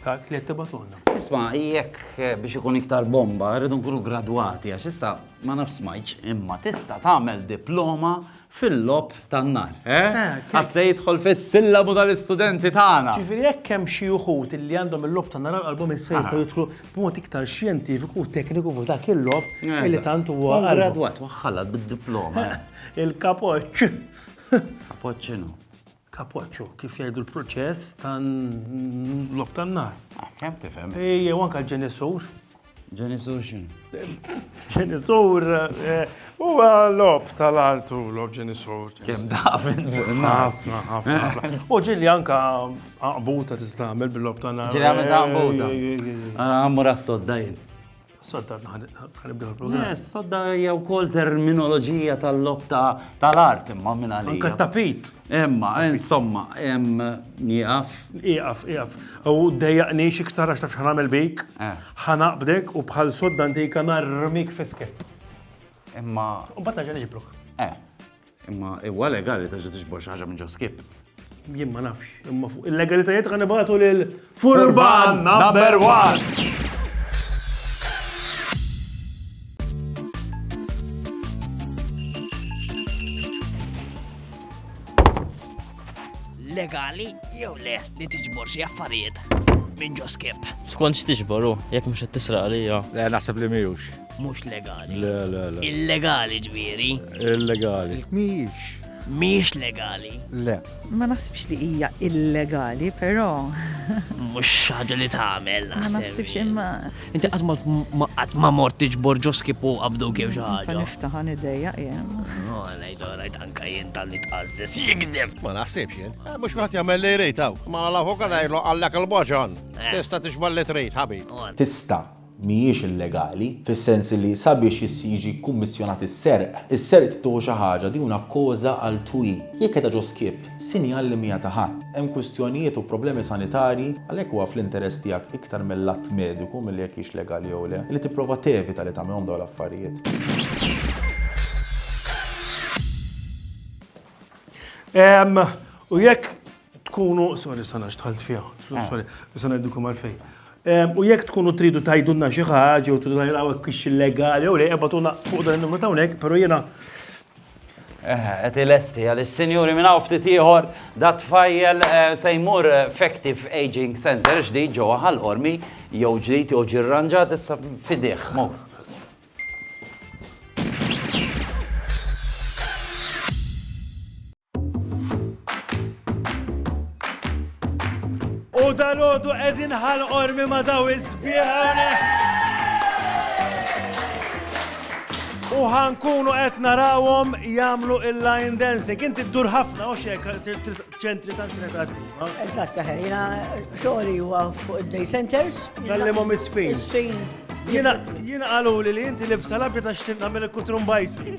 Dak li qed tibatulna. Isma' jekk eh, biex ikun iktar bomba, rridu nkunu gradwati għax issa ma nafx smajċ, imma tista' tagħmel diploma fil-lob tan-nar. Eh? eh Għasse jidħol fis-sillabu tal-istudenti tagħna. Ġifieri jekk hemm xi uħud li għandhom il-lob tan-nar qalbhom issa jistgħu ah. jidħlu b'mod iktar xjentifiku u tekniku fuq dak il-lob eh, li tant huwa gradwat waħħalat bid-diploma. Il-kapoċċ. Kapoċċinu. Kapoċċo, kif jgħidu l-proċess tal-logħob tan-nar. Tifhem, tifhem. Jew anke l-ġenisur. Ġenisur x'inhu? Ġenisur eh, huwa logħob tal-art u logħob ġenisur. Kemm daf Ħafna, ħafna, ħafna. U ġieli anke aqbuta tista' tagħmel bil-logħob tan-nar. Ġieli għamel ta' għambuta. Għammur għas-sodda jien. Sodda ħanibdew il-programm. Yes, sodda hija wkoll terminoloġija tal-lob tal-art imma minn għalija. Anka tapit. Imma, insomma, nieqaf. Ieqaf, ieqaf. U dejjaqni xiktar għax taf x'ħanamel bik, eh. ħanaqbdek u bħal sodda antika narmik fiskek. Imma. U bat naġa niġibruk. Eh. Imma huwa legali terġa' tiġbor xi ħaġa minn ġo skip? Jien ma nafx, imma fuq il-legalitajiet ħa nibgħatu lil Furban number one! legali jew le li tiġbor xi affarijiet minn ġo skip. Skont x'tiġboru, jekk mhux qed tisraq għalija. Le naħseb li miħux. Mhux legali. Le, le, le. Illegali ġviri. Illegali. Mhijiex. Mhijiex legali. Le. Ma naħsibx li hija illegali, però. Mhux ħaġa li tagħmel. Ma naħsibx imma. Inti qatt ma qatt ma mort tiġbor ġoski fuq abdu kif xi ħaġa. Niftaħan idejja jien. No, ngħid orajt anke jien tal-li tqażżes jikdeb. Ma naħsibx jien. Eh, mhux wieħed jagħmel li jrid hawn. Ma l-avukat għajlu għallek il-boġon. Eh. Tista' tixbal li trid, ħabib. Tista' mhijiex illegali, fis-sens li sabiex jiġi kkummissjonat is-serq, is-serq trid tieħu xi ħaġa, din huna causa altrui. Jekk qiegħda ġo skip, sinjal li mhija ta' ħadd. Hemm kwistjonijiet u problemi sanitarji, għalhekk huwa fl-interess tiegħek iktar mill-att mediku milli jekk hix legali jew le, li tipprova tevita li tagħmilhom dawn l-affarijiet. Ehm, u jekk Tkunu, sorry sa nax tħalt fiha, sorry, sa ngħidilkom għalfejn. U jekk tkunu tridu tajdunna xi ħaġa u tridu tgħidilha hekk kix illegali jew le, ebatuna fuq dan in-numru ta' hawnhekk, però jiena Qed ilesti għal is-sinjuri minn hawn ftit ieħor da tfajjel eh, se jmur Effective Aging Center ġdid ġewwa ħal-qormi jew ġdid jew ġirranġat issa fidih. U dal-għodu edin ħal ormi ma daw iżbieħone. U ħankunu qed narawhom jagħmlu il-line dancing. Inti ddur ħafna u xek ċentri ta' attiva. Eżatt, ħajja, xogħli huwa fuq id-day centers. Kallimhom isfin. Isfin. Jiena qalu li inti libsa labja ta' xtinna mill-kutrum bajsi.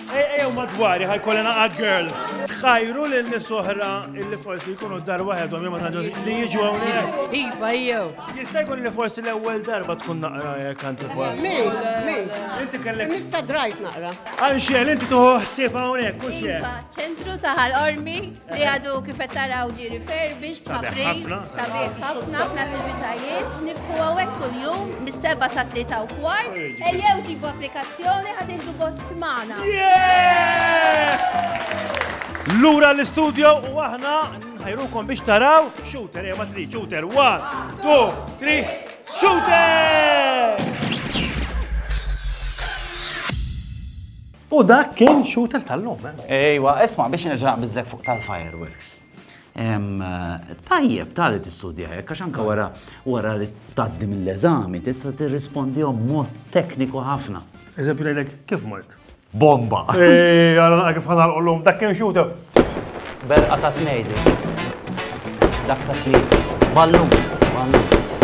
Ej, ejjew madwari ħajkolli naqa' girls. Tħajru lil nies oħra illi forsi jkunu dar waħedhom jew ma tantx li jiġu hawnhekk. Iva, jew. Jista' jkun li forsi l-ewwel darba tkun naqra jekk antipa. Min, min. Inti kellek. Issa drajt naqra. Anxel, inti tuħu ħsieb hawnhekk, mhux hekk. Iva, ċentru ta' ħal-ormi li għadu kifet taraw ġi refurbished ma' frejn, sabiħ ħafna fl-attivitajiet, niftħu għawek kull-jum, mis-seba sa' tlita u kwart, ejjew ġibu applikazzjoni ħatindu gost maħna. Lura l-istudio u aħna nħajrukom biex taraw shooter, ejjew ma' tri, shooter, 1, 2, 3, shooter! U dak kien shooter tal-lum, eh? Ejwa, isma' biex nerġa' naqbiżlek fuq tal-fireworks. Tajjeb tali tistudja hekk għax anke wara wara li tgħaddi mill-eżami tista' tirrispondihom mod tekniku ħafna. Eżempju ngħidlek kif mort? Bomba! Ej, għal kif ħanalqu llum, dak kien shooter. Berqa ta' tnejdi. Dak ta' tlieta. Ballun, ballun.